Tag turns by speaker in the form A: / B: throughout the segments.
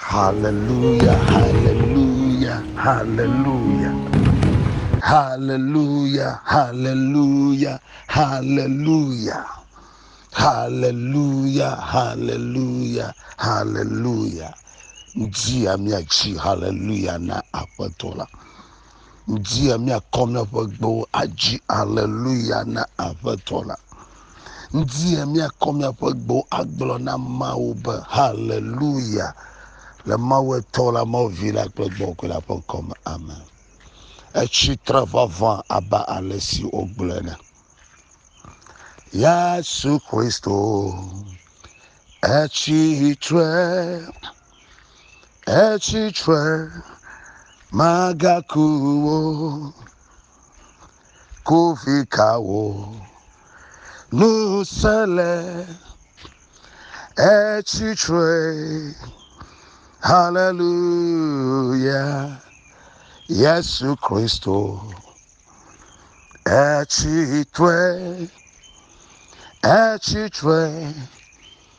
A: Haleluya, haleluya, haleluya. Haleluya, haleluya, haleluya. Haleluya, haleluya, haleluya. Dzia míadzi haleluya na Aƒetɔ la. ŋuti ya míakɔ míaƒe gbewo adzi aleluya na Aƒetɔ la. Ŋuti ya míakɔ míaƒe gbewo agblɔ na Mawu be haleluya le Mawu etɔ la, Mawu vi la kple gbɔgbɔ la ƒe ŋkɔ me. Amen. Etsi tre vavã abe ale si wogblɔe ne. Yesu Kristo, etsi tre. etsi tre magaku wo kovi kawo ŋusẽ le etsi tre haleluya yesu kristo etsi tre etsi tre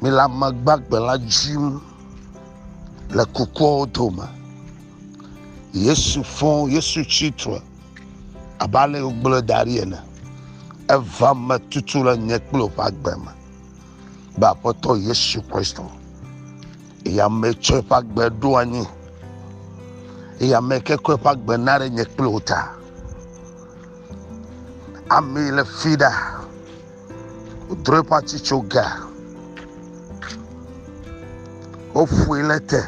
A: Mele ame gbagbe la dzim le kukuawo dome. Yesu fɔ, Yesu tsi tre abe ale si wogblɔe da ɖi ene. Eva me tutu le nye kple wò ƒe agbe me be Aƒetɔ Yesu Kristo. Eya me tsɔ eƒe agbe ɖo anyi. Eya me ke kɔ eƒe agbe na ɖe nye kple wò ta. Amee le fi ɖa. Wodro eƒe atsitsoga, woƒoe le te.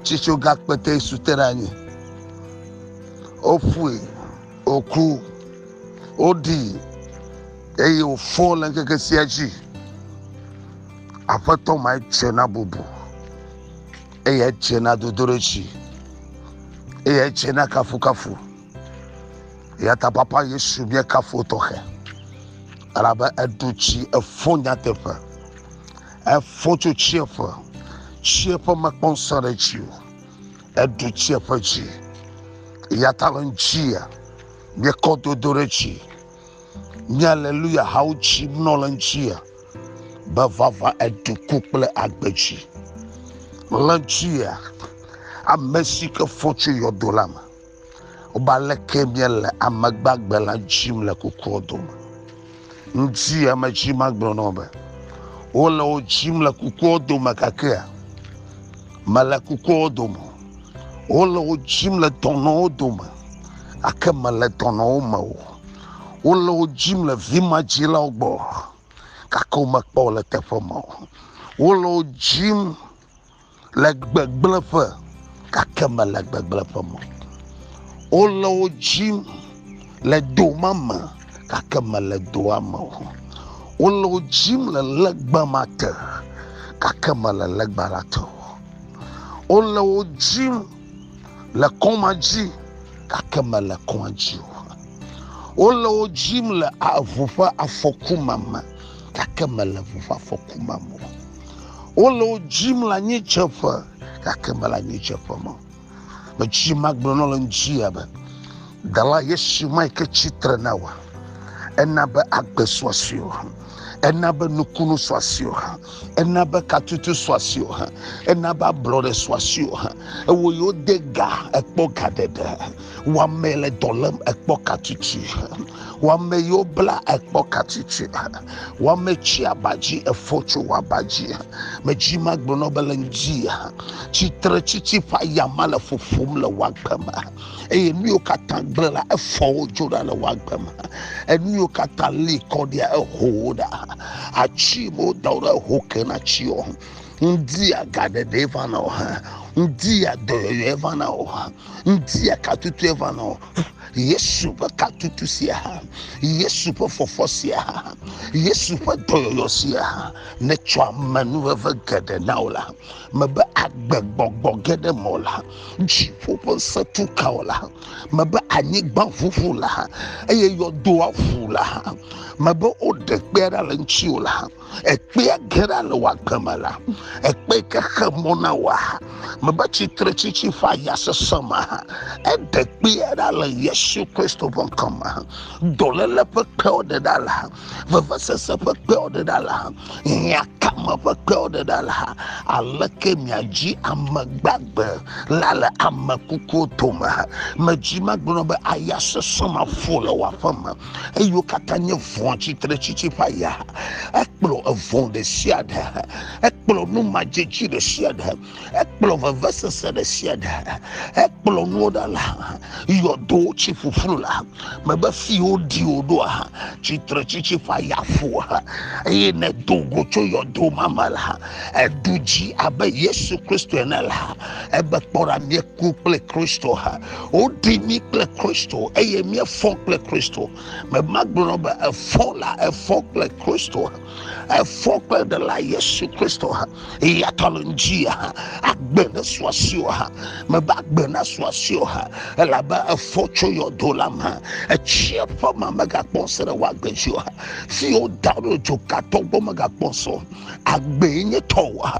A: Tsitsoga kpete su te ɖe anyi. Woƒoe, wòku, woɖii eye wòfɔ le ŋkeke sia dzi. Aƒetɔ ma edze na bubu eye edze na dodoɖedzi eye edze na kafukafu. Yata papa Yesu bia kafo tɔxɛ. Alabe eɖu tsi efo nyateƒe. Efo tso tsieƒe. Tsieƒe mekpɔ ŋusẽ ɖe dzi o. Eɖu tsieƒe dzi. Yata le ŋuti bia kɔ dodo ɖe dzi. Nye aleluya hawo tsi nɔ le ŋuti be vava eɖu ku kple agbe dzi. Le ŋuti ame si ke fo tso yɔdo la me. Wobe aleke míele ame gbagbe la dzim le kukua dome. Ŋdi ame dzi magblɔ nɔ be wole wo dzim le kukua dome gakea mele kukua dome. Wole wo dzim le dɔnɔwo dome gake mele dɔnɔwo me o. Wole wo dzim le vimadzilawo gbɔ gake womekpɔ le teƒe ma o. Wole wo dzim Le gbegblẽƒe, gake mele gbegblẽƒe me o. Wole wo dzim le do ma me, gake mele doa me o. Wole wo dzim le legba ma te, gake mele legba la te o. Wole wo dzim le kɔ̃ ma dzi, gake mele kɔ̃a dzi o. Wole wo dzim le ʋu ƒe afɔku ma me, gake mele ʋu ƒe afɔku ma me o. Wole wo dzim le anyitseƒe gake mele anyitseƒe me. Metsi magblɔ nɔ le ŋutia be dala Yesu ma yi ke tsitre na wa ena be agbe suasue o ena be nukunu suasue o ena be katutu suasue o ena be ablɔɖe suasue o ewɔ yewo de ga ekpɔ ga ɖeɖe. Wame le dɔ lém ekpɔ katsitsi. Wame yiwo bla ekpɔ katsitsi. Wame tsi abadzi efɔ tso wɔ abadzi. Medzi ma gblɔ nɔ be le ŋdi. Tsitre tsitsi ƒe ayama le ƒoƒom le wɔ agbe me. Eye nu yiwo katã gblẽ la efɔ wo dzo ɖa le wɔ agbe me. Enu yiwo katã li kɔ ɖia eho wo ɖa. Atsi me woda wo ɖe eho ke na tsi wo. Ŋdi agaɖeɖe vana o. Ŋdi adɔyɔyɔe vana o. Ŋutia ka tutue va nɔ Yesu ƒe ka tutu sia hã, Yesu ƒe fɔfɔ sia hã, Yesu ƒe dɔyɔyɔ sia hã netsɔ amenuveve geɖe na wò la, mebe agbegbɔgbɔ ge ɖe mɔ la, dziƒo ƒe ŋusẽ tu ka wò la, mebe anyigba ʋuʋu la, eye yɔdoa ʋu la, mebe woɖe kpe ɖa le ŋutiwò la, ekpea gera le wò agbe me la ekpe yi ke xe mɔ na wòa mebe tsitretsitsi ƒe aya sesẽ me eɖe kpea ɖa le yesu kristo ƒe ŋkɔ me dɔléle ƒe kpewo ɖe ɖa la vevesese ƒe kpewo ɖe ɖa la hiãkame ƒe kpewo ɖe ɖa la aleke miadzi ame gbagbe la le ame kukuwo dome medzi magblɔ be aya sesẽ maƒo le wò aƒe me eyiwo katã nye vɔ̃ tsitretsitsi ƒe aya ekplɔ evɔ̃ ɖe sia ɖe ekplɔ nu madzetsi ɖe sia ɖe ekplɔ vevesese ɖe sia ɖe ekplɔ nuwo ɖa la yɔdo tsi ƒuƒlu la mebe fiwo ɖi wo ɖoa tsitretsitsi ƒe aya ƒu eye ne do go tso yɔdo ma me la eɖu dzi abe yesu kristo ene la ebe kpɔ ɖa míeku kple kristo ha woɖi mí kple kristo eye míefɔ kple kristo memagblɔ be efɔ la efɔ kple kristo efɔ kple ɖela yesu kristo ha eyata le ŋdzi ha agbe ne suasi o ha mebe agbe na suasi o ha elabe efɔ tso yɔdo la me etsia ƒe ma megakpɔ se ɖe woagbe dzi o ha si woda ɖo dzokatɔ gbɔ megakpɔ so agbe nye tɔwo ha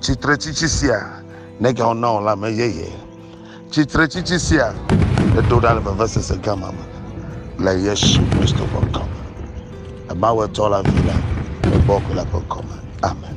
A: Tsitretsitsi sia nègawɔ na wò lãme yeye. Tsitretsitsi sia edo ɖa le vevesese gã ma me le Yesu Kristo ƒe ŋkɔ me. Emawu etɔ la vi la egbɔ ko la ƒe ŋkɔ me. Amen.